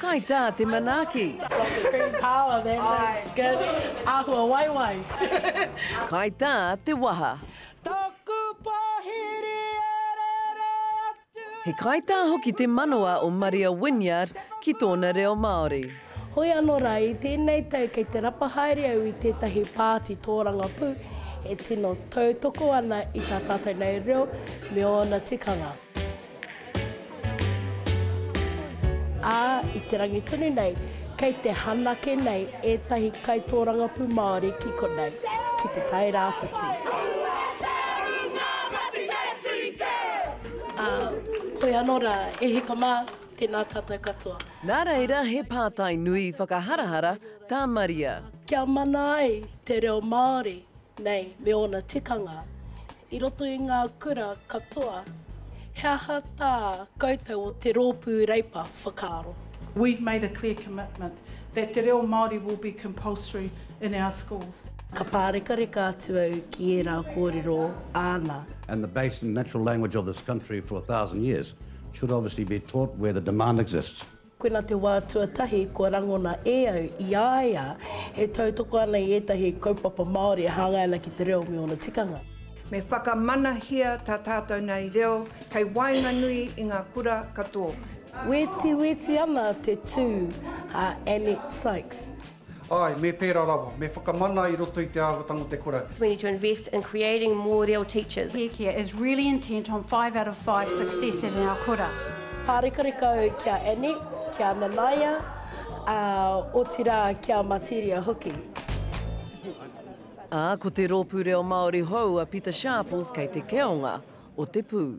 Kai tā te manaaki. Got the green power there, looks good, āhua waiwai. Kai tā te waha. Taku pōhiri e rere atu. He kaitā hoki te manawa o Maria Wynyard ki tōna reo Māori. Hoi anō rā, i tēnei tau kei te rapa haere au i tētahi pāti tōrangapū e tino tautoko ana i tā tātou nei reo me ōna tikanga. Ā, i te rangi tonu nei, kei te hanake nei ētahi kaitōrangapū Māori ki konei, ki Te Tai Rāwhiti. Ā, hoi anō rā, e hika mā, tēnā tātou katoa. Nā reira, he pātai nui whakaharahara tā Maria. Kia mana ai te reo Māori Nei me ōna tikanga i roto i ngā kura katoa, he aha tā koutou o Te Rōpū Reipa whakaaro? We've made a clear commitment that te reo Māori will be compulsory in our schools. Ka pārekareka atu au ki ērā kōrero āna. and the base and natural language of this country for a thousand years should obviously be taught where the demand exists. Koina te wā tuatahi kua rangona e au i a ia e tautoko ana i ētahi kaupapa Māori e hāngai ana ki te reo me ōna tikanga. Me whakamanahia tā tātou nei reo kei waenganui i ngā kura katoa. Wetiweti ana te tū a Annette Sykes. Āe, me pērā rawa. Me whakamana i roto i te āhuatanga o te kura. We need to invest in creating more reo teachers. Kēkia is really intent on five out of five success in our kura. Pārekareka au ki a Annette, ki a Nanaia, ā, otirā ki a Materia hoki. Ā, ko te rōpū reo Māori hou a Pita Sharples kei te keonga o te pū.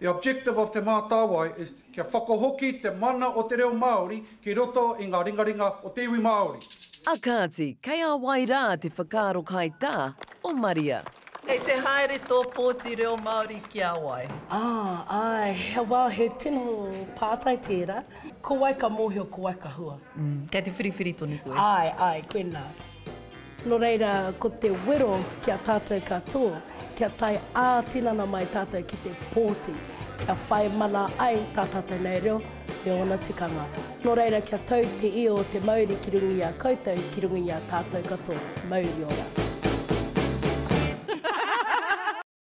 The objective of Te Mātāwai is kia whakahoki te mana o te reo Māori ki roto i ngā ringaringa o te iwi Māori. A kāti, kei a wai rā te whakaaro kaitā o Maria? Kei te haere tō pōti reo Māori ki a wai? Ah, āe, well, he tino pātai tērā. Ko wai ka mōhio, ko wai ka hua? Kei te whiriwhiri tonu koe? Āe, āe, koinā. Nō reira, ko te wero ki a tātou katoa, kia tae ā-tinana mai tātou ki te pōti, kia whai mana ai tā tātou nei reo me ōna tikanga. Nō reira, kia tau te io o te mauri ki runga i a koutou, ki runga i a tātou katoa. Mauri ora!